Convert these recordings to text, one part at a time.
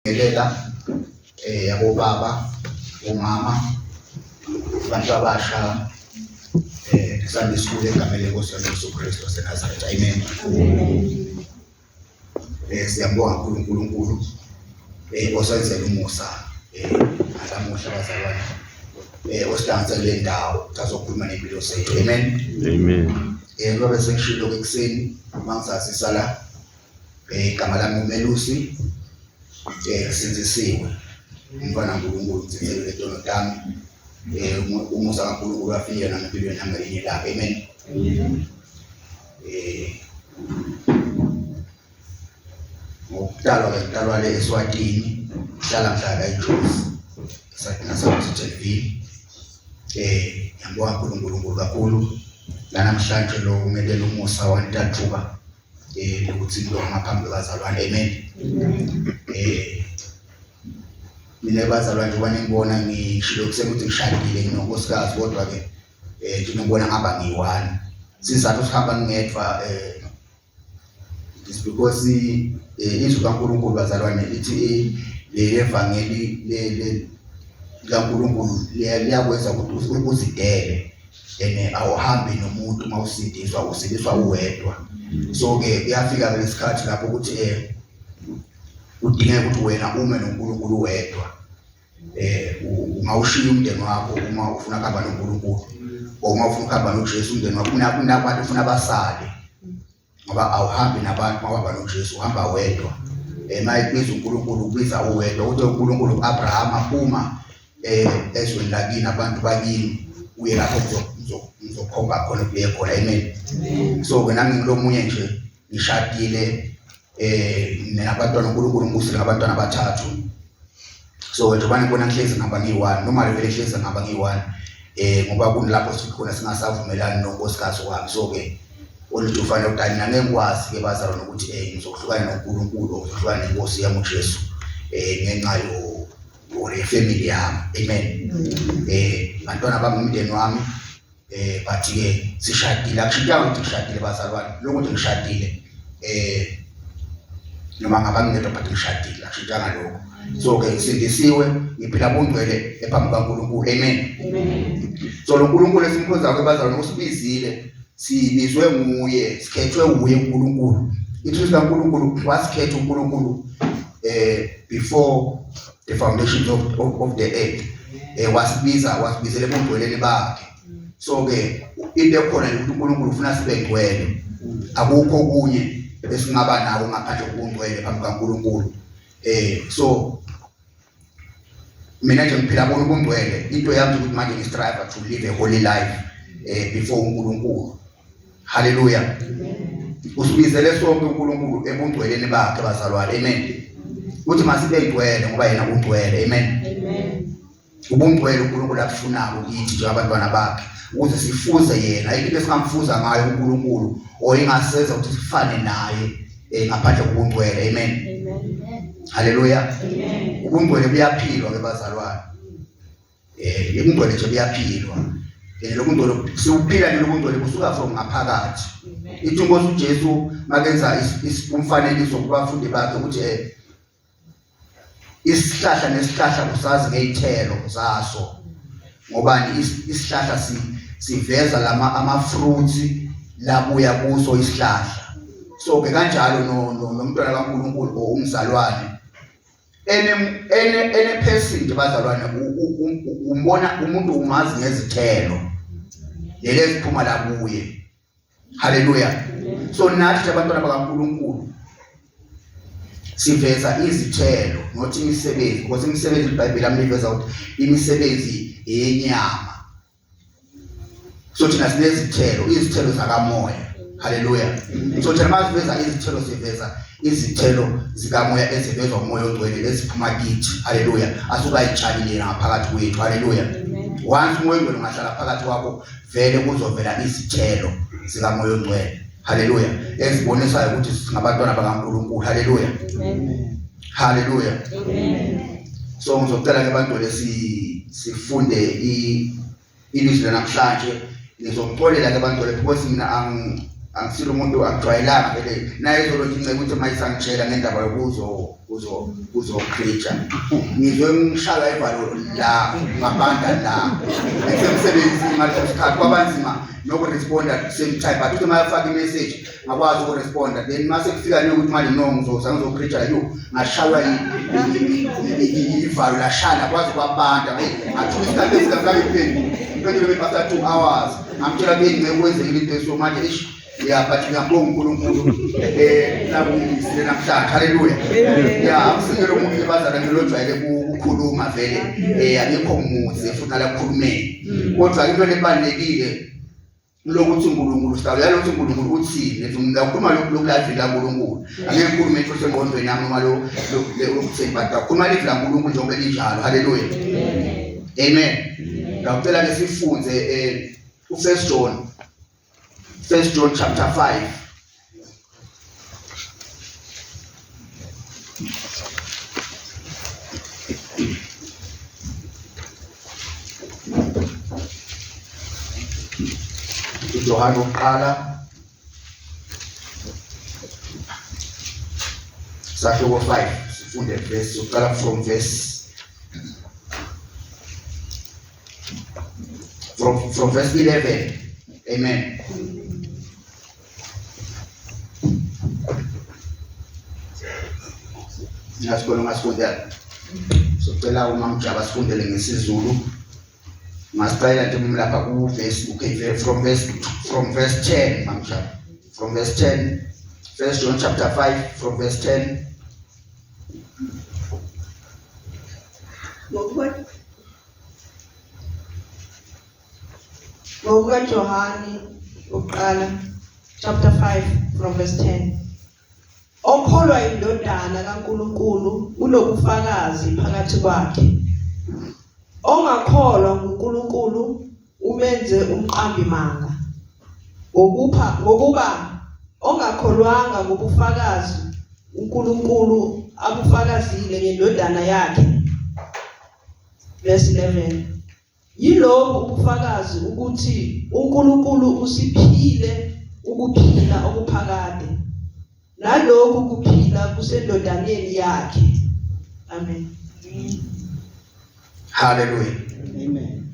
ngelela eh yabobaba umama abantu abasha eh kusanda isikole egamele Nkosi Jesu Kristu waseNazaretha amen eh siyabonga uNkulunkulu eh osenzele umusa eh alamuhla bazalwane eh osidansa kule ndawo sazokhuluma nempilo zethu amen amen eh ngoba sengishilo ekuseni mangisasisala Eh, igama lami uMelusi eh sinzisiwe umfana uNkulunkulu ngithethelele tono tami eh umusa kaNkulunkulu afike nami empilweni yami ngelinye ilanga amen eh ngokutalwa ke ngitalwa le eSwatini ngihlala ngihlala eJozi eSwatini naseMthethweni eh ngiyambonga uNkulunkulu kakhulu lanamhlanje lo umekela umusa wantathuka eh ukuthi lo ngaphambi kwazalwane amen eh mina bazalwane njengoba ningibona ngishilo kusekuthi ngishadile nginonkosikazi kodwa ke eh nginobona ngaba ngiyi-one sizathu sihamba ngingedwa eh is because eh, izwi kaNkulunkulu bazalwane lithi eh, levangeli likaNkulunkulu liyakwenza ukuthi uzidele and awuhambi nomuntu uma usidiswa usidiswa uwedwa so ke kuyafika lesikhathi lapho ukuthi eh udingeka ukuthi wena ume noNkulunkulu wedwa eh uma ushiya umndeni wakho uma ufuna kuhamba noNkulunkulu uma ufuna ukuhamba noJesu umndeni wakho unabantu ufuna basale ngoba awuhambi nabantu mawuhamba noJesu uhamba wedwa uma eh, ebiza uNkulunkulu ubiza uwedwa uthi uNkulunkulu uAbraham aphuma eh, ezweni lakini abantu bakini uye lapho ngizokhomba khona kuye khona amen so ke nami ngilomunye nje ngishadile eh mina abantwana uNkulunkulu ngibusile ngabantwana abathathu so njengoba ngibona kuhlezi ngihamba ngiyi-one noma levele kuhlezi ngihamba ngiyi-one um ngoba kunilapho sikhona singasavumelani nonkosikazi wami so-ke oluthi ufanele ukuthi mina ngeke ngikwazi-ke bazalwa nokuthi um ngizohlukana nonkulunkulu or ngizohlukana nenkosi yami ujesu um ngenxa or yefemily yami amen um bantwana bami umndeni wami eh but ke sishadile akushintanga ukuthi ngishadile bazalwane lokho nje ngishadile eh noma ngabangedwa but ngishadile akushintanga lokho so ke sindisiwe ngiphila bungcwele ephambi kaNkulunkulu amen so lo Nkulunkulu esimkhonzayo ke bazalwane usibizile sibizwe nguye sikhethwe nguye uNkulunkulu ithi uNkulunkulu wasikhetha uNkulunkulu eh before the foundations of, of, of the earth eh wasibiza wasibizele bongcweleni bakhe so ke into ekhona ukuthi uNkulunkulu ufuna sibe ngcwele akukho kunye esingaba nawo ngaphandle kokungcwele phambi kaNkulunkulu eh so mina nje ngiphila bona ubungcwele into yami ukuthi manje ngistrive to live a holy life eh before uNkulunkulu Haleluya. Usibizele sonke uNkulunkulu ebungcweleni bakhe bazalwane. Amen. Uthi masibe ngcwele ngoba yena ungcwele. Amen. Amen. Ubungcwele uNkulunkulu akufunayo kithi njengabantwana bakhe ukuze sifuze yena into esingamfuza ngayo uNkulunkulu oyingaseza ukuthi sifane naye eh, ngaphandle kobungcwele. Amen. Amen. Haleluya. Amen. Ubungcwele buyaphilwa ke bazalwane. eh yokungcwele nje kuyaphilwa eh lokungcwele siwuphila nje lokungcwele kusuka from ngaphakathi ithi inkosi uJesu makenza umfanekiso kubafundi bakhe ukuthi eh isihlahla nesihlahla kusazi ngeyithelo zaso ngoba isihlahla siveza lama ama fruits labuya kuso isihlahla so ke kanjalo nomntwana kaNkuluNkulu or umzalwane ene ene ene person bazalwane umbona umuntu umazi ngezithelo lele ziphuma la kuye haleluya so nathi abantwana bakaNkuluNkulu siveza izithelo not imisebenzi because imisebenzi iBhayibheli amiveza ukuthi imisebenzi yenyama so thina sinezithelo izithelo zakamoya haleluya so thina masiveza izithelo siveza izithelo zikamoya ezivezwa umoya ongcwele eziphuma kithi haleluya asukayitshalile ngaphakathi kwethu haleluya once umoya ongcwele ungahlala phakathi kwakho vele kuzovela izithelo zikamoya ongcwele haleluya ezibonisayo ukuthi singabantwana bakankulunkulu haleluya Haleluya. Amen. So ngizocela ke abantu lesi sifunde i ilizwi lanamhlanje ngizokuxolela ke abantu lapho ukuthi mina ang angisile umuntu akujwayelanga vele naye izolo nginceke ukuthi mayisangitshela ngendaba yokuzo kuzo kuzo preacher ngizwe ngishaya ivalo la ngabanda la esemsebenzini ngaleso sikhathi kwabanzima nokuresponda at the same time but uma yafaka imessage ngakwazi ukuresponda then uma sekufika nje ukuthi manje no ngizoza ngizopreacha yo ngashaywa ivalo lashaya ngakwazi kwabanda eyi ngathuka isikhathi esingahlala iphenduka impendulo bepasa two hours ngamtshela kuyeni ngekuwenzekile into eso manje eish ya but ngiyambonga unkulunkulu um eh, nakungisile namhlanje halleluya ya akusikele umuntu libazana nje lojwayele kukhuluma vele um eh, angikho muze futhi alakukhulumeni mm. kodwa into lebalulekile lokuthi uNkulunkulu sitawuya lokuthi uNkulunkulu uthini ethi mina ukhuluma lokhu lokulazwi laNkulunkulu angeke ngikhulume into sengqondweni yami noma lo lokuthembata ukhuluma lizwi laNkulunkulu njengoba linjalo haleluya amen ngicela ke sifunde eh uFirst John First John chapter 5 uJohane wokuqala sahluko 5 sifunde verse uqala from verse from from verse 11 amen ngingasikolo ngasifundela socela umamjaba sifundele ngesizulu ngasicela nje umlapha kuvesi ukv from verse from verse 10 mamjaba from verse 10 first john chapter 5 from verse 10 What, what? ngokukaJohane wokuqala chapter 5 from verse 10 okholwa indodana kaNkuluNkulu unobufakazi phakathi kwakhe ongakholwa nguNkuluNkulu umenze umqambi manga ngokupha ngokuba ongakholwanga ngobufakazi uNkulunkulu abufakazile ngendodana yakhe verse 11 Yilobu ubufakazi ukuthi uNkulunkulu usiphile ukuphila okuphakade. Nalokhu kuphila kusendodaneni yakhe. Amen. Hallelujah. Amen.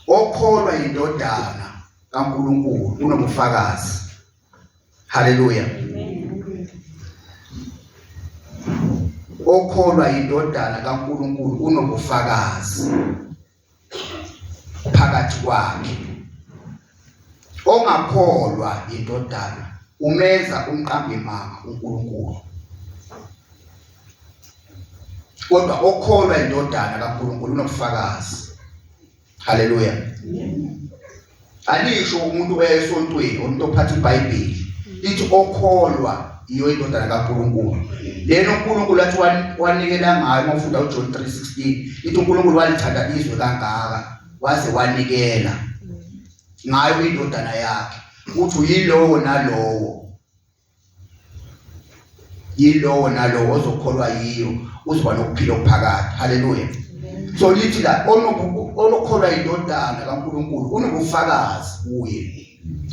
Okholwa indodana kaNkulunkulu unobufakazi. Haleluya. Okholwa indodana kaNkuluNkulu unobufakazi phakathi kwakhe. Ongakholwa indodana umenza umqambi manga uNkulunkulu. Kodwa okholwa indodana kaNkuluNkulu unobufakazi Haleluya. Alisho umuntu oya esontweni, umuntu ophatha iBhayibheli. Lithi okholwa yiyo indodana kaNkulunkulu. Lena uNkulunkulu athi wanikela ngayo uma ufunda uJohn 3:16. Lithi uNkulunkulu walithanda izwe kangaka waze wanikela ngayo indodana yakhe. Uthi yilowo nalowo yilowo nalowo ozokholwa yiyo uzoba nokuphila okuphakade haleluya so lithi la onokholwa yindodana kaNkuluNkulu unobufakazi kuye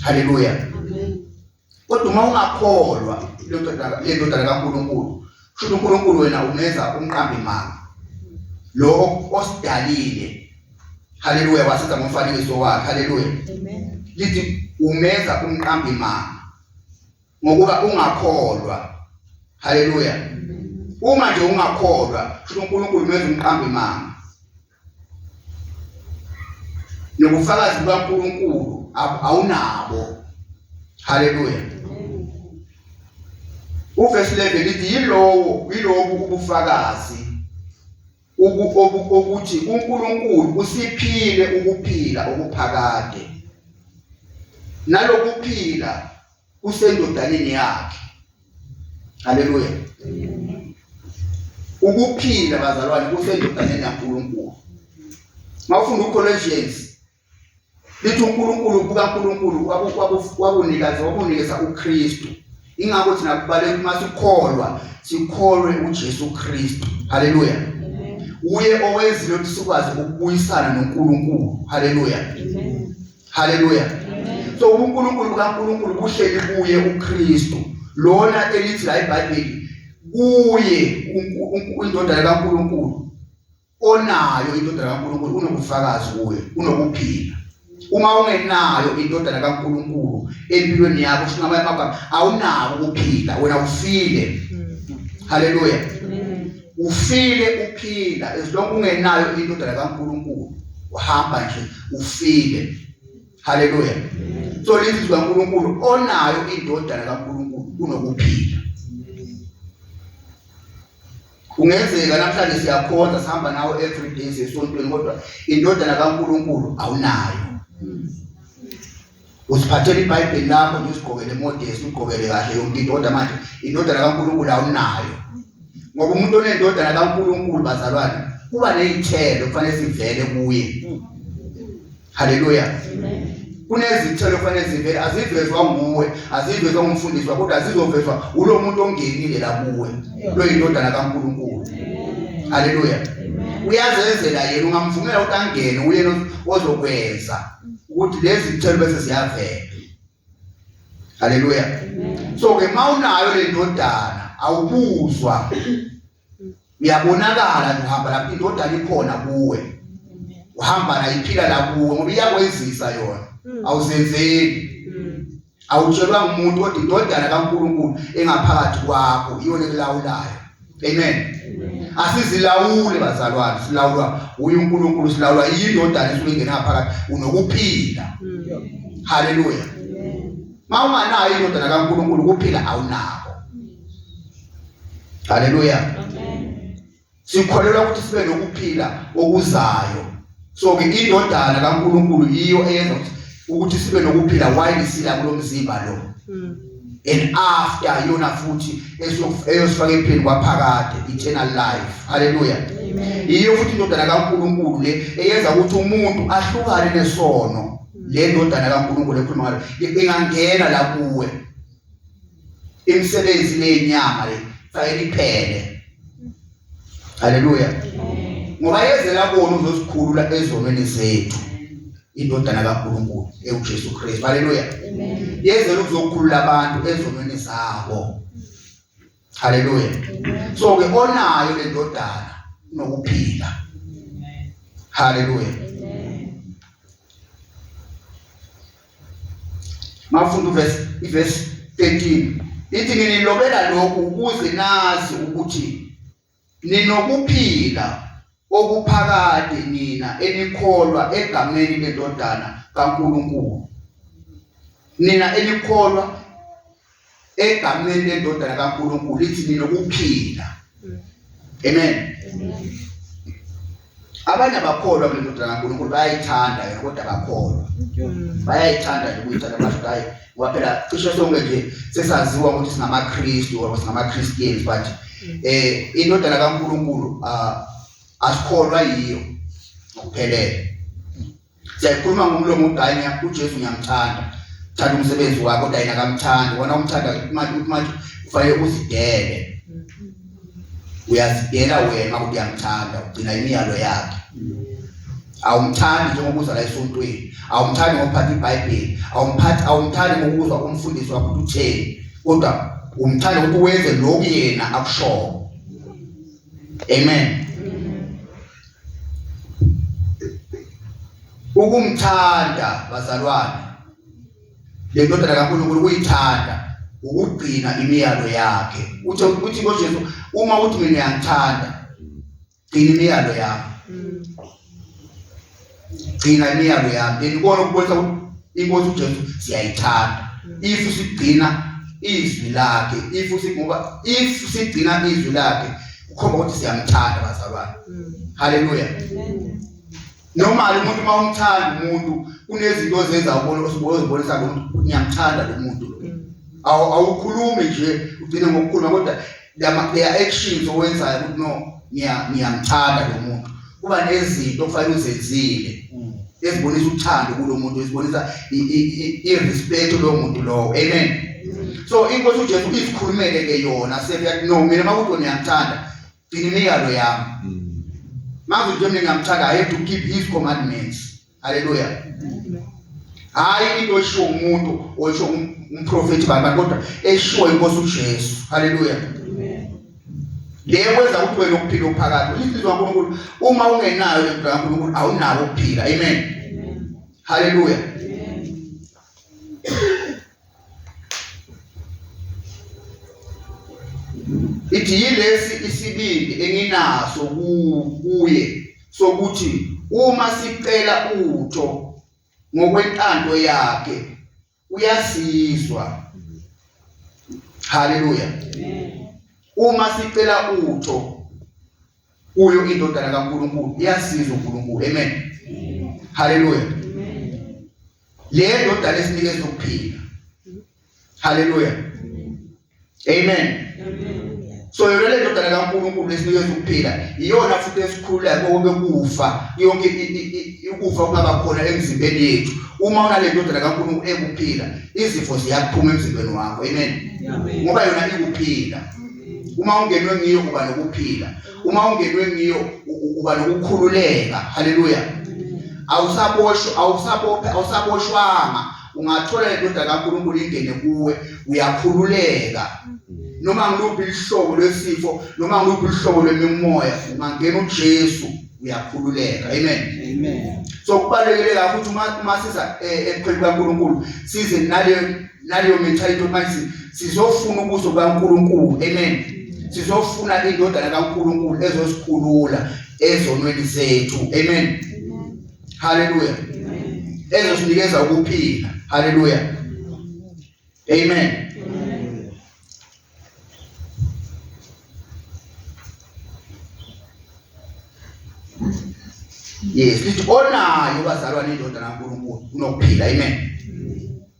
haleluya kodwa uma ungakholwa lendodana lendodana kaNkuluNkulu kusho uNkuluNkulu wena umenza umqambi manga lo osidalile haleluya wasenza ngomfanekiso wakhe haleluya lithi umenza umqambi manga ngokuba ungakholwa haleluya uma nje ungakholwa kusho uNkulunkulu menza umqambi imanga nobufakazi bukaNkulunkulu awunabo haleluya uvesi 11 lithi yilowo yilobu ubufakazi ukuthi uNkulunkulu usiphile ukuphila okuphakade nalokuphila kusendodaneni yakhe haleluya ukuphila bazalwane kusendodaneni yaNkulunkulu mawufunda uColossians lithi uNkulunkulu kukaNkulunkulu wakunikeza wakunikeza uKristu ingakho thina kubaleka uma sikholwa sikholwe uJesu Kristu haleluya uye owenzile ukuthi sikwazi ukubuyisana noNkulunkulu haleluya haleluya so uNkulunkulu kaNkulunkulu kuhleli kuye uKristu lona elithi la iBhayibheli kuye indodana kaNkulunkulu onayo indodana kaNkulunkulu unobufakazi kuwe unokuphila uma ungenayo indodana kaNkulunkulu empilweni yakho sho ngamanye amagama awunako ukuphila wena ufile haleluya ufile uphila as long ungenayo indodana kaNkulunkulu uhamba nje ufile haleluya so lizwi kaNkulunkulu onayo indodana kaNkulunkulu unokuphila Kungenzeka namhlanje siyakhonza sihamba nawe every day sesontweni kodwa indodana kaNkuluNkulu awunayo. Usiphathele iBhayibheli lakho nje usigqokele emodesi ugqokele kahle yonke into kodwa manje indodana kaNkuluNkulu awunayo. Ngoba umuntu onendodana kaNkuluNkulu bazalwane kuba nezithelo kufanele sivele kuye. haleluya kunezithelo kufanele zivele azivezwa nguwe azivezwa ngumfundisi wakho kodwa zizovezwa ulo muntu ongenile la kuwe loyindodana kaNkuluNkulu haleluya uyazenzela yena ungamvumela ukuthi angene uyena ozokwenza ukuthi lezi zithelo bese ziyavela haleluya so ke mawunayo le ndodana awubuzwa uyabonakala nje uhamba lapho indodana ikhona kuwe uhamba nayo iphila la kuwe ngoba iyakwenzisa yona hmm. awuzenzeli hmm. awutshelwa ngumuntu kodwa indodana kaNkulunkulu engaphakathi kwakho iyona ekulawulayo Amen. Asizilawuli bazalwane, silawulwa uNkulunkulu, silawulwa yindodana esuke ingena phakathi, unokuphila. Mm. Haleluya. Mawunganayo indodana kaNkulunkulu kuphila awunako. Haleluya. Amen. Sikholelwa ukuthi sibe nokuphila okuzayo. so ke indodana kaNkuluNkulu yiyo eyenza ukuthi sibe nokuphila while sila kulomzimba lo mm. and after yona futhi eyosifaka empilweni kwaphakade eternal life haleluya yiyo futhi indodana kaNkuluNkulu le eyenza ukuthi umuntu ahlukane nesono le ndodana kaNkuluNkulu ekhuluma ngayo ingangena la kuwe imisebenzi nenyama le fanele iphele haleluya ngoba yezela kona uzosikhulula ezonweni zethu indodana kaNkuluNkulu ewuJesu Kristu haleluya yezela ukuzokhulula abantu ezonweni zabo haleluya so ke onayo le ndodana nokuphila haleluya Mafunda verse verse 13 ithi nginilobela lokhu ukuze nazi ukuthi ninokuphila okuphakade nina enikholwa egameni lendodana kaNkuluNkulu nina enikholwa egameni lendodana kaNkulunkulu ithi nina ukuphila amen abanye abakholwa kule ndodana kaNkulunkulu bayayithanda yona kodwa abakholwa bayayithanda nje ukuyithanda basho hayi waphela cishe sonke nje sesaziwa ukuthi singamaKristu or singamaChristians but eh indodana kaNkulunkulu ah, asikholwa yiyo ngokuphelele siyakhuluma ngomlomo ukuthi hayi ngiya uJesu ngiyamthanda thanda umsebenzi wakho kodwa yena akamthandi wona umthanda manje ukuthi manje kufanele uzidele uyazidela wena ukuthi uyamthanda ugcina imiyalo yakhe awumthandi njengoba uza la esontweni awumthandi ngokuphatha ibhayibheli awumphathi awumthandi ngokuzwa umfundisi wakho ukuthi utheni kodwa umthanda ukuthi wenze lokhu yena akushoko amen ukumthanda bazalwane le ndodana kaNkulunkulu kuyithanda ukugcina imiyalo yakhe uthe uthi ngoJesu uma uthi mina ngiyangithanda gcina imiyalo yakhe gcina imiyalo yakhe then ikona ukubonisa inkosi uJesu siyayithanda if sigcina izwi lakhe if singoba if sigcina izwi lakhe ukhomba ukuthi siyamthanda bazalwane mm. haleluya normal umuntu uma umthanda umuntu kunezinto ozenza ubona ozibonisa lo muntu ngiyamthanda lo muntu mm. awukhulumi nje ugcine ngokukhuluma kodwa lama actions owenzayo ukuthi no ngiyamthanda lo muntu kuba nezinto okufanele uzenzile mm. ezibonisa uthando kulomuntu ezibonisa irespect lo muntu lowo amen so inkosi uJesu izikhulumele ke yona sethi no mina makuthi ngiyakuthanda gcina imiyalo yami mm. makuthi nje mina ngiyamthanda i have to keep his commandments Haleluya. Hayi into eshiwo umuntu osho umprofeti baba kodwa eshiwo inkosi uJesu. Haleluya. Le kwenza ukuthi wena ukuphila uphakathi. Inhliziyo kaNkulunkulu uma ungenayo le nto kaNkulunkulu awunako ukuphila. Amen. Haleluya. ithi yilesi isibindi enginaso kuye sokuthi uma sicela utho ngokwentando yakhe uyasizwa haleluya uma sicela utho kuyo indodana kaNkulunkulu iyasizwa uNkulunkulu amen haleluya le ndodana esinikeza ukuphila haleluya amen so yona le ndodana kaNkulunkulu esinikeza ukuphila iyona futhi esikhulula konke kufa yonke ukufa kungaba khona emzimbeni yethu uma unale ndodana kaNkulunkulu ekuphila izifo ziyaphuma emzimbeni wakho amen ngoba yona ikuphila uma ungenwe ngiyo uba nokuphila uma ungenwe ngiyo uba nokukhululeka haleluya awusaboshwa awusabophe awusaboshwanga ungathola indoda kaNkulunkulu ingene kuwe uyakhululeka noma ngiluphi ihlobo lwesifo noma ngiluphi ihlobo lwemimoya ungangena uJesu uyakhululeka amen amen so kubalekile kakhulu uma uma siza eh, ekupheni kaNkulunkulu size nale naleyo mentality manje sizofuna ubuso bukaNkulunkulu amen sizofuna indodana kaNkulunkulu ezosikhulula ezonweni zethu amen haleluya ezosinikeza ukuphila haleluya amen yes lithi onayo bazalwane indodana kaNkulunkulu unokuphila amen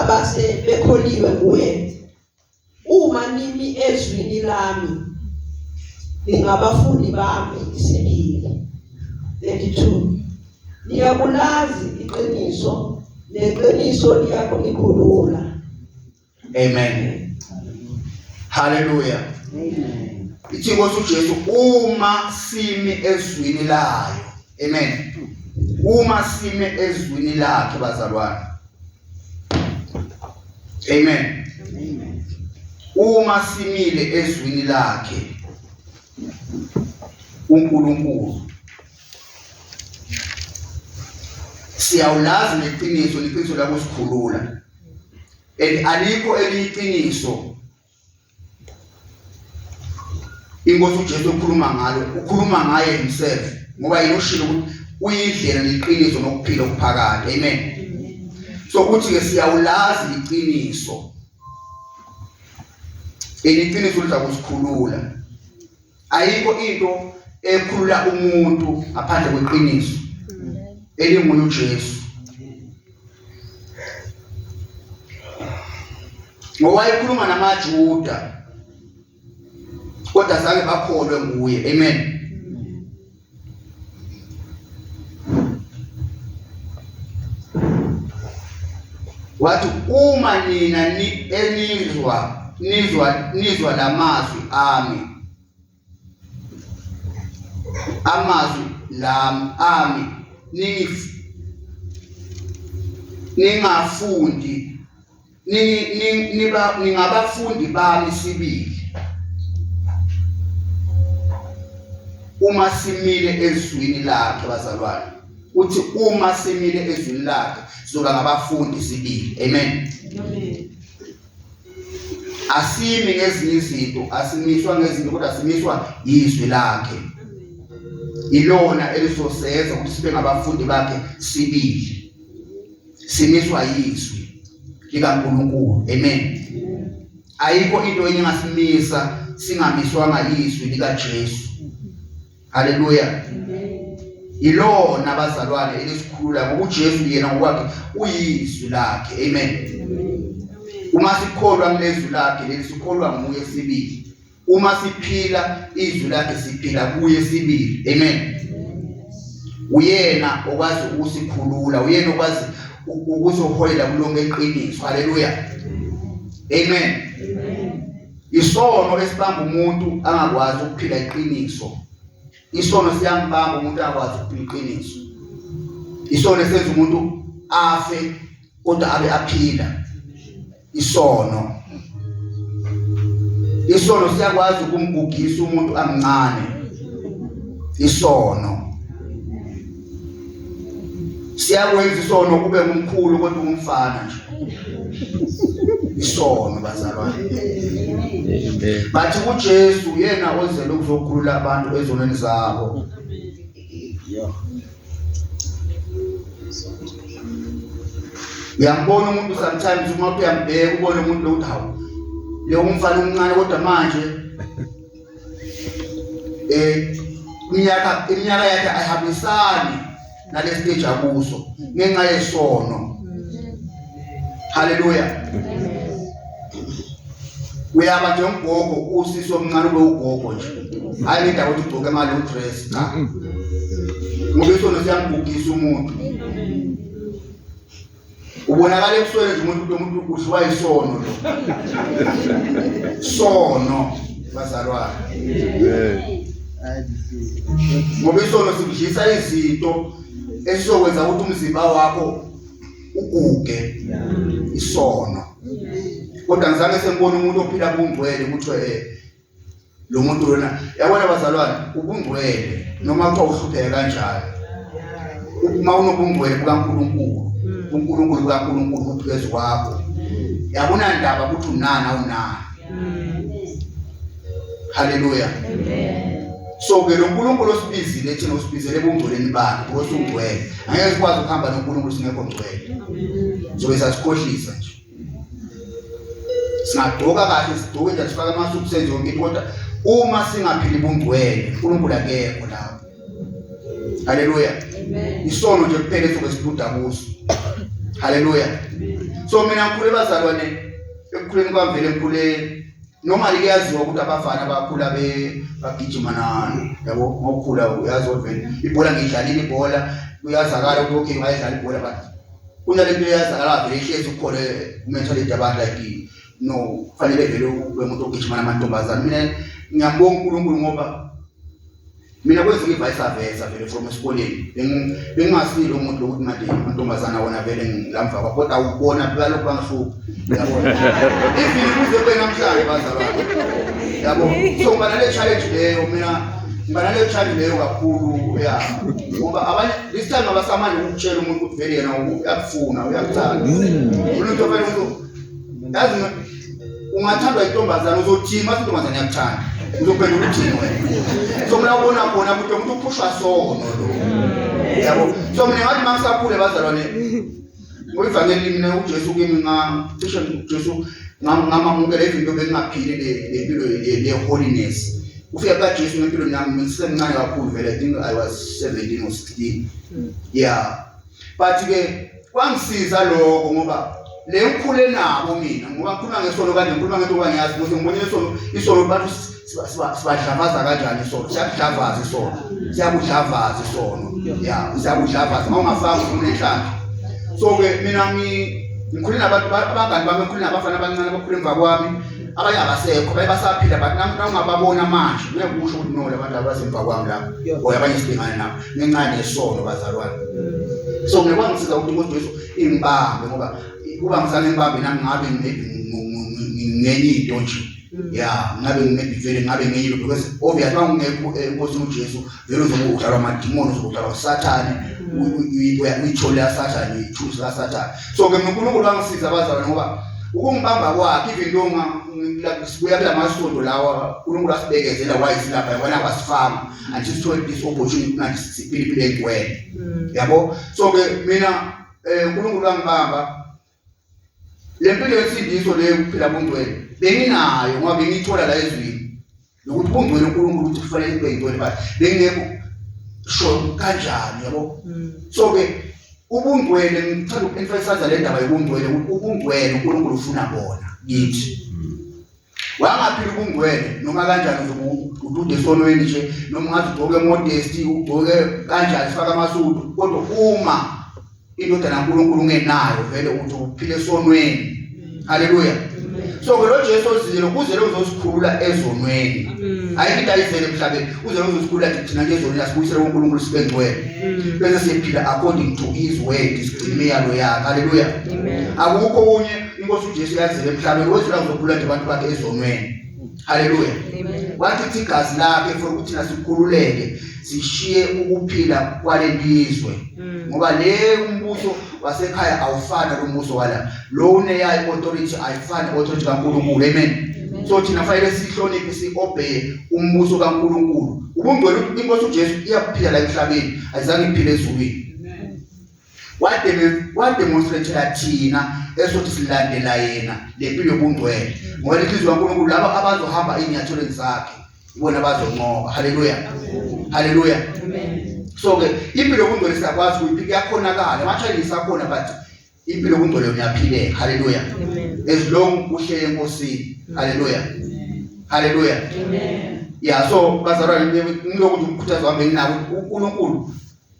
abase bekholiwe kuye uma nimi ezwini lami ningabafundi bami isibili 32 niyakulazi iqiniso neqiniso liyakunikhulula Amen. Hallelujah. Amen. Ithi Nkosi uJesu uma simi ezwini layo. Amen. Uma simi ezwini lakhe bazalwane. Amen. Amen. Uma simile ezwini lakhe uNkulunkulu siyawulazi neqiniso neqiniso lakusikhulula and alikho eliyiqiniso inkosi uJesu ukhuluma ngalo ukhuluma ngaye himself ngoba yena ushilo ukuthi uyindlela neqiniso nokuphila okuphakade amen so uthi ke siyawulazi iqiniso eliqiniso lizakusikhulula ayikho into ekhulula umuntu ngaphandle kweqiniso elinguye uJesu ngowayekhuluma namaJuda kodwa zange bakholwe nguye amen wathi uma nina enizwa nizwa nizwa lamazwi ami amazwi lami ami ningifundi niba ningabafundi bami sibili uma simile ezwini lakhe bazalwane uthi uma simile ezwini lakhe sizoba ngabafundi sibili amen asimi ngezinye izinto asimiswa ngezinto kodwa simiswa yizwi lakhe ilona elizosenza ukuthi sibe ngabafundi bakhe sibili simiswa yizwi likaNkulunkulu amen ayikho into enye engasimisa singamiswanga yizwi likaJesu haleluya yilona bazalwane elisikhulula ngoba uJesu yena ngokwakhe uyizwi lakhe amen uma sikholwa kulezwi lakhe leli sikholwa nguye sibili uma siphila izwi lakhe siphila kuye sibili amen uyena okwazi ukusikhulula uyena okwazi ukuzoholela kulonke iqiniso haleluya amen isono esibamba umuntu angakwazi ukuphila iqiniso isono siyambamba umuntu akwazi ukuphila iqiniso isono esenza umuntu afe kodwa abe aphila isono isono siyakwazi ukumgugisa umuntu amncane isono siyakwenza isono kube ngumkhulu kodwa umfana nje isono bazalwane bathi uJesu yena ozele ukuzokhulula abantu ezonweni zabo uyambona umuntu sometimes uma uyambheka ubone umuntu lo ukuthi hawu lo umfana omncane kodwa manje eh iminyaka iminyaka yakhe ayihambisani nalesiteji akuso ngenxa yesono haleluya uyaba nje umgogo usisi omncane ube ugogo nje hayi indawo ukuthi ugcoke imali udress cha ngoba isona siyambugisa umuntu ubonakala ebusweni nje umuntu lo muntu udliwa isono lo sono bazalwane ngoba isono sikudlisa izinto esizokwenza ukuthi umzimba wakho uguge isono kodwa ngizange sengibona umuntu ophila kungcwele ukuthi eh lo muntu lona yabona bazalwane ubungcwele noma kuthiwa uhlupheke kanjalo uma unobungcwele bukaNkulunkulu uNkulunkulu kaNkulunkulu uphezu kwakho yabona ndaba ukuthi unana unani haleluya so ke lo nkulunkulu osibizile thina usibizele ebungcweleni bakhe because ungcwele angeke sikwazi ukuhamba nonkulunkulu singekho ngcwele zobe sasikhohlisa nje singagqoka kahle sigqoke nje sifake amasuku senze yonke into kodwa uma singaphili bungcwele uNkulunkulu akekho lapho haleluya isono nje kuphela esobe sibuda kuso haleluya so mina ngikhule bazalwane ekukhuleni kwamvele ngikhule Normally kuyaziwa ukuthi abafana abakhula be bagijima nani yabo ngokukhula uyazi vele ibhola ngidlalile ibhola kuyazakala ukuthi okay ngayidlala ibhola but kunalento eyazakala vele ihlezi ukhole mentality abantu like no kufanele vele ube umuntu ogijima namantombazane mina ngiyambonga uNkulunkulu ngoba mina kwezinye ivice aveza vele from esikoleni bengingasile umuntu lokuthi manje amantombazana wona vele ngilamva kwakho kodwa awubona balokhu bangihlupha yabona even kuze kube namhlanje bazalwane yabo so ngiba nale challenge leyo mina ngiba nale challenge leyo kakhulu ya ngoba abanye this time abasamane ukutshela umuntu ukuthi vele yena uyakufuna uyakuthanda umuntu ofela umuntu yazi Ungathandwa intombazana uzothini mase intombazana yakuthanda. Uzobheka ukuthi wena. So mina ubona khona ukuthi umuntu uphushwa sono lo. Yabo. So mina ngathi mangisakhule bazalwane ngoyivangeli mina uJesu kimi nga cishe uJesu ngamamukela izinto bengingaphili lempilo le holiness. Ufika ka Jesu ngempilo nami ngisemncane kakhulu vele I think I was 17 or 16. Yeah. but ke kwangisiza lokho ngoba le ngikhule nabo mina ngoba ngikhuluma ngesono kanje ngikhuluma ngento kwangiyazi ukuthi ngibonile isono isono abantu sibadlavaza kanjani isono siyakudlavaza isono siyakudlavaza isono ya siyakudlavaza uma ungafanga ufuna inhlanhla so ke mina ngikhule nabantu abangani bami ngikhule nabafana abancane abakhule emva kwami abanye abasekho baye basaphila but nami nawungababona manje ngeke kusho ukuthi no labantu abasemva kwami lapho or abanye sibhekane nabo Ngencane isono bazalwane. So ngiyakwazi ukusiza ukuthi umuntu Jesu imbambe ngoba kuba ngisane imbambe nami ngabe ngenye into nje. Yeah, ngabe nginebivele ngabe ngenye into because obvious uma ungekho enkosini eh, uJesu vele uzokudlalwa amadimoni uzokudlalwa uSathane uyithole yaSathane uyithusi kaSathane. So ke uNkulunkulu wangisiza bazalwane ngoba ukungibamba kwakhe even though ngibuya kula masonto lawa uNkulunkulu asibekezela wayisilapha yabona wasifama I just want this opportunity ngathi siphilipile kuwena mm. yabo so ke mina eh uNkulunkulu wangibamba le mpilo yesindiso le ukuphila bungcwele benginayo ngoba bengithola la ezwini nokuthi bungcwele uNkulunkulu ukuthi kufanele kube yintoni but bengekho sho kanjani yabo mm. so ke ubungcwele ngithanda uku-emphasize le ndaba yobungcwele ukuthi ubungcwele uNkulunkulu ufuna bona kithi mm. wangaphila ubungcwele noma kanjani nje udude esonweni nje noma ungathi ugcoke modesti ugcoke kanjani sifaka amasudu kodwa uma indodana kaNkulunkulu ungenayo vele uthi uphile esonweni haleluya so ke lo Jesu ozile kuzele uzosikhulula ezonweni hayi into ayizele emhlabeni uzele uzosikhulula thina nje ezonweni asibuyisele uNkulunkulu sibe ngcwele bese siphila according to his word sigcine imiyalo yakhe haleluya akukho kunye inkosi ujesu yazile emhlabeni wezula uzokhulula nje abantu bakhe ezonweni haleluya wathi ithi igazi lakhe for ukuthi thina sikhululeke sishiye ukuphila kwalelizwe mm. ngoba le umbuso wasekhaya awufani nombuso wala lo uneyayo authority ayifani authority kaNkulunkulu amen so thina fanele sihloniphe siobey umbuso kaNkuluNkulu ubungcwele inkosi uJesu iyaphila la emhlabeni ayizange iphile ezulwini wademonstrathela thina esothi silandela yena le mpilo yobungcwele ngoba inhliziyo kaNkulunkulu laba abazohamba ey'nyathelweni zakhe ibona bazonqoba haleluya haleluya so-ke impilo yobungcwele siyakwazi ukuthi kuyakhonakala ama-challenge sakhona but impilo yobungcwele uyaphileka haleluya as long uhlele enkosini haleluya haleluya ya so bazalwane ngilokuthi umkhuthazo wami enginawo unkulunkulu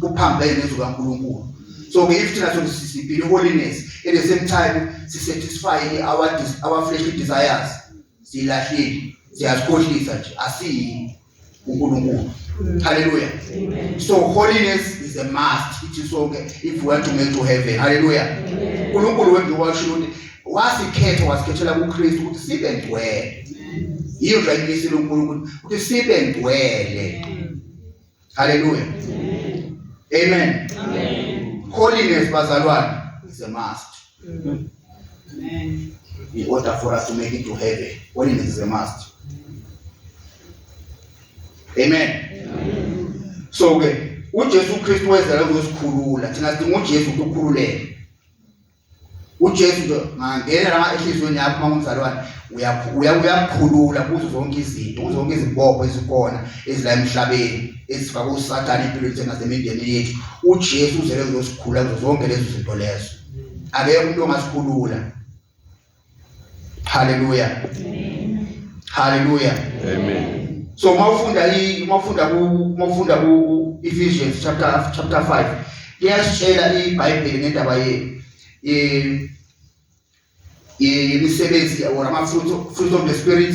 kuphambene nezwi kaNkulunkulu so ke if thina sokuthi sisipile holiness at the same time si satisfy our our fleshly desires silahlile siyazikhohlisa nje asiyi uNkulunkulu haleluya so holiness is a must ithi sonke if we want to make to heaven haleluya uNkulunkulu wethu washo ukuthi wasikhetha wasikhethela kuKristu ukuthi sibe ngcwele yiyo nje ayimisile uNkulunkulu ukuthi sibe ngcwele Haleluya. Amen. Amen. Holiness bazalwane is a must. Amen. In order for us to make it to heaven, holiness is a must. Amen. Amen. So ke uJesu Kristu wezela ukuyosikhulula. Thina sidinga uJesu ukukhululeka. uJesu nje ngangena la ehlizweni yakho uma ngumzalwane uyakukhulula kuzo zonke izinto kuzo zonke izibopho ezikhona ezila emhlabeni ezifaka usathane empilweni zethu nasemindeni yethu ujesu uzele kuzosikhulula kuzo zonke lezo zinto lezo akekho umuntu ongasikhulula Haleluya. Amen. Haleluya. Amen. So mawufunda i mawufunda ku mawufunda ku Ephesians chapter chapter 5 iyasitshela iBhayibheli ngendaba ye imisebenzi or ama fruit fruit of the spirit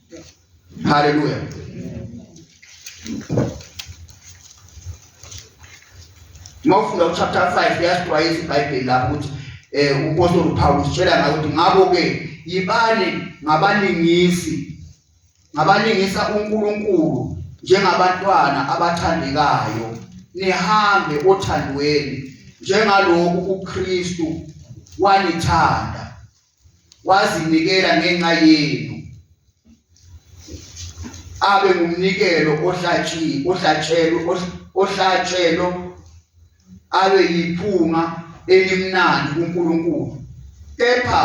Haleluya. Uma ufunda uchapter 5 yasixwayisa iBhayibheli lapho ukuthi eh umpostoli uPawulu sitshela ngayo ukuthi ngabo ke yibani ngabalingisi ngabalingisa uNkulunkulu njengabantwana abathandekayo nihambe othandweni njengaloku uKristu wanithanda wazinikela ngenxa yenu abe ngumnikelo ohlatshiwe ohlatshelwe ohlatshelwe abe yiphunga elimnandi kuNkulunkulu kepha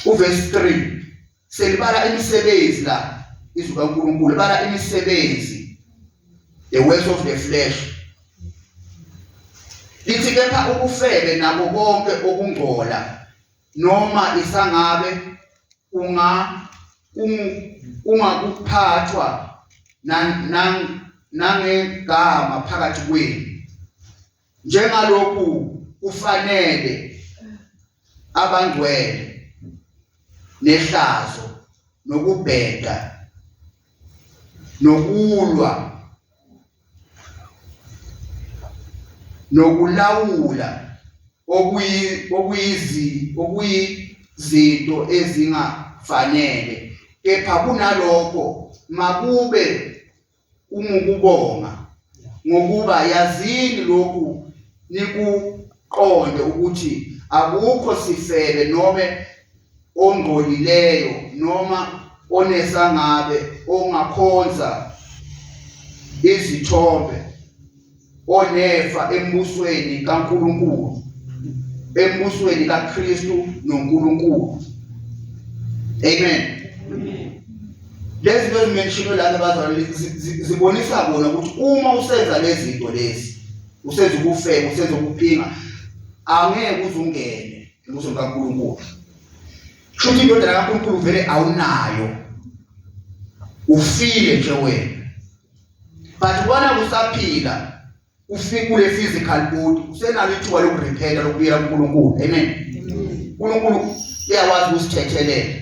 uvesi 3 selibala imisebenzi la izwi kaNkulunkulu libala imisebenzi the works of the flesh lithi kepha ubufebe nabo konke okungcola noma isangabe unga ungakuphathwa nangegama phakathi kwenu njengalokhu kufanele abangcwele nehlazo nokubheda nokulwa nokulawula okuyi okuyizi okuyizinto ezingafanele kepha kunalokho makube kungukubonga ngokuba yazini lokhu nikuqonde ukuthi akukho sifebe noma ongcolileyo noma onesangabe ongakhonza izithombe onefa embusweni kaNkuluNkulu embusweni kaKristu noNkuluNkulu amen lezi zinto zimenshino lana bazalwane zibonisa bona ukuthi uma usenza lezi zinto lezi usenza ubufebe usenza ubuphinga angeke uzungene embusweni kaNkuluNkulu shuthi indodana kaNkuluNkulu vele awunayo ufile nje wena but ubona kusaphila ufikule physical body usenalo ithuba lokurepenta lokubuyela kuNkulunkulu amen uNkulunkulu uyawazi usithethelela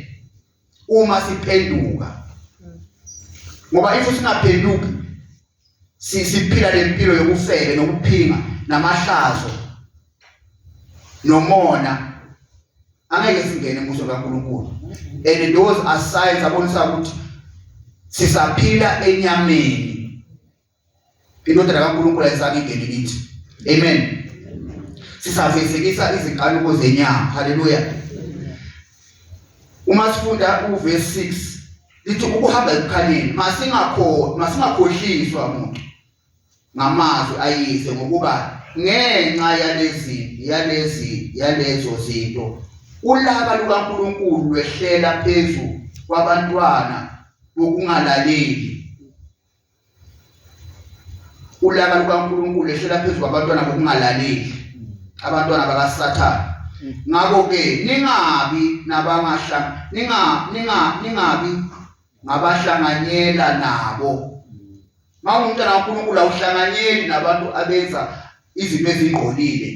uma siphenduka ngoba if singaphenduki siphila lempilo yokufebe nokuphinga namahlazo nomona angeke singene emuso kaNkulunkulu and those are signs abonisa ukuthi sisaphila enyameni indodana kaNkulunkulu ayisakingeni kithi amen sisafezekisa izinkanuko zenyama haleluya uma sifunda uverse 6 lithi ukuhamba ekukhanyeni masingakho masingakhohliswa muntu ngamazwi ayise ngokuba ngenxa yalezi yalezi yalezo zinto ulaka lukaNkulunkulu lwehlela phezu kwabantwana bokungalaleli ulaka lukaNkulunkulu lehlela phezu kwabantwana bokungalaleli abantwana bakaSathane ngakho ke ningabi nabangahla ninga ninga ningabi ngabahlanganyela nabo mawumntana kaNkulunkulu awuhlanganyeli nabantu abenza izinto ezingqolile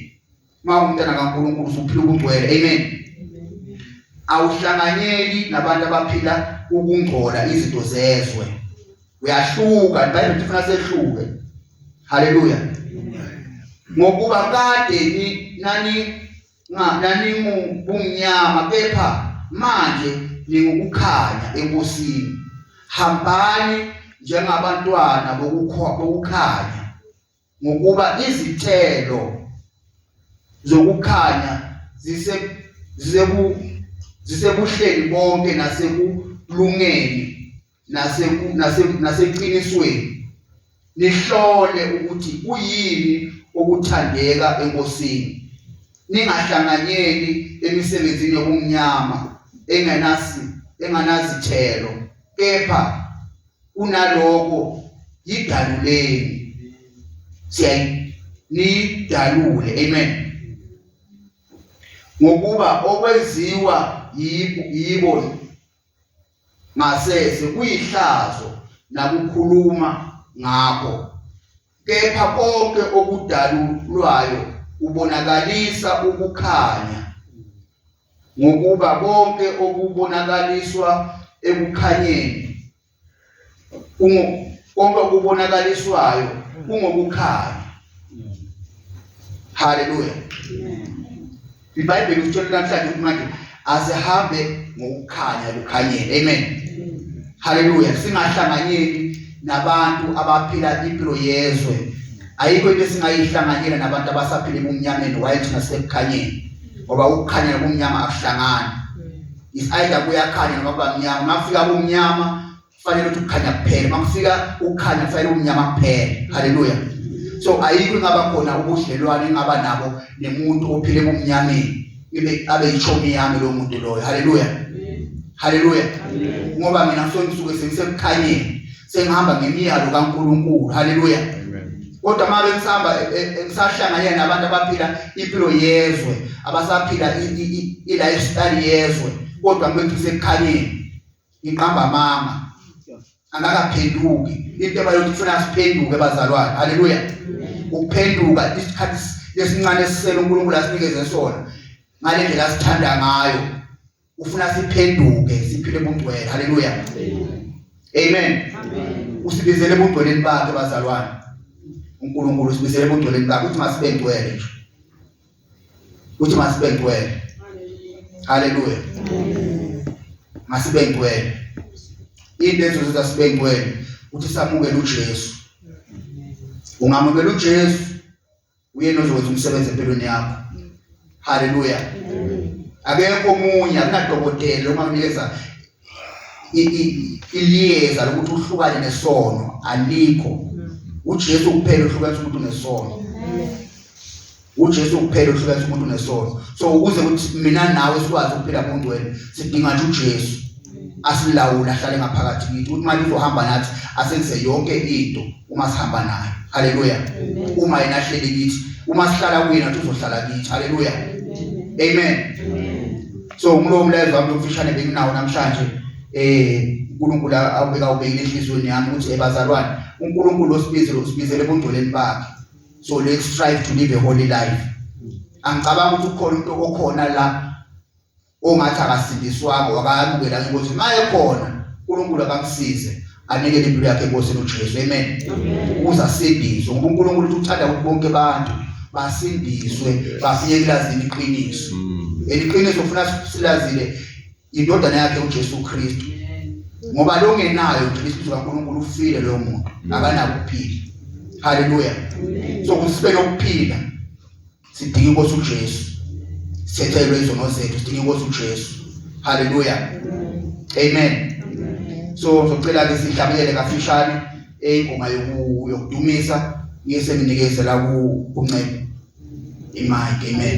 mawumntana kaNkulunkulu usuphila ukungcwele amen awuhlanganyeli nabantu abaphila ukungcola izinto zezwe uyahluka ibhayibheli ifuna sehluke haleluya ngokuba kade nani naningubumnyama kepha manje ningukukhanya ebusini hambani njengabantwana bokukhanya ngokuba izithelo zokukhanya zise zisebu zisebuhleni bonke nasekulungeni nase nase naseqinisweni nihlole ukuthi kuyini okuthandeka enkosini ningahlanganyeli emisebenzini yobumnyama engenasi enganazithelo kepha kunaloko yidaluleni siyayi nidalule amen ngokuba okwenziwa yibo ngasese kuyihlazo nakukhuluma ngakho kepha konke okudalulwayo ubonakalisa ukukhanya ngokuba konke okubonakaliswa ekukhanyeni konke okubonakaliswayo kungokukhanya haleluya ibhayibheli usitshela namhlanje ukuthi manje asihambe ngokukhanya kukhanyele amen haleluya singahlanganyeli nabantu abaphila impilo yezwe ayikho into esingayihlanganyela nabantu abasaphila ebumnyameni waye thina sekukhanyeni ngoba ukukhanya nobumnyama akuhlangani is either kuyakhanya noma kuba mnyama makufika kumnyama kufanele ukuthi ukukhanya kuphele makufika ukukhanya kufanele umnyama kuphele haleluya so ayikho ingaba khona ubudlelwane engaba nabo nemuntu ophile kumnyameni ibe abe yichomi yami lo muntu loyo haleluya haleluya ngoba mina ngisuke ngisuke sengisekukhanyeni sengihamba ngemiyalo kaNkulunkulu haleluya kodwa uma bengisahamba e, e, e, ngisahlanganyela nabantu abaphila impilo yezwe abasaphila i-lifestyle yezwe kodwa ngibethi sekukhaleni ngiqamba amanga angakaphenduki into ebayothi kufuna siphenduke bazalwane haleluya ukuphenduka isikhathi lesincane esisele uNkulunkulu asinikeze sona ngale ndlela sithanda ngayo ufuna siphenduke siphile ubungcwele haleluya amen usibizele ebungcweleni bakhe bazalwane uNkulunkulu usibizele ebungcweleni bakhe uthi masibengcwele nje uthi masibengcwele haleluya masibengcwele into ezozenza sibengcwele uthi samukele uJesu ungamukela uJesu Uyena ozokwenza umsebenzi empilweni yakho. Haleluya. Akekho omunye akunadokotela ongakunikeza iliyeza lokuthi uhlukane nesono alikho. UJesu kuphela ohlukanisa umuntu nesono. uJesu kuphela ohlukanisa umuntu nesono. So ukuze ukuthi mina nawe sikwazi ukuphila ngongcwele sidinga nje uJesu. asilawula ahlale ngaphakathi kithi ukuthi manje uzohamba nathi asenze yonke into uma sihamba naye haleluya uma yena ahleli kithi uma sihlala kuyena uzohlala kithi haleluya amen so ngulowo mlayezo wami lomfishane benginawo namhlanje eh uNkulunkulu awubeka ubekile enhlizweni yami ukuthi ebazalwane uNkulunkulu osibizile usibizele ebungcweleni bakhe so let's strive to live a holy life angicabanga ukuthi ukhona umuntu okhona la ongathi akasindiswanga wakayamukela ngeNkosi maye khona uNkulunkulu akamsize anikele impilo yakhe enkosini uJesu amen ukuze asindiswe ngoba uNkulunkulu uthi uthanda ukuthi bonke abantu basindiswe bafike kulazini iqiniso mm. eliqiniso ufuna silazile indodana yakhe uJesu Kristu ngoba longenayo uJesu kaNkulunkulu ufile loyo muntu mm. akanakuphila haleluya so kusibe nokuphila sidinga inkosi uJesu sethelwe izono zethu sidinga inkosi uJesu haleluya amen so ngizocela ke sihlabelele kafishane ingoma yokudumisa ngise nginikeze la ku kuncedo imike amen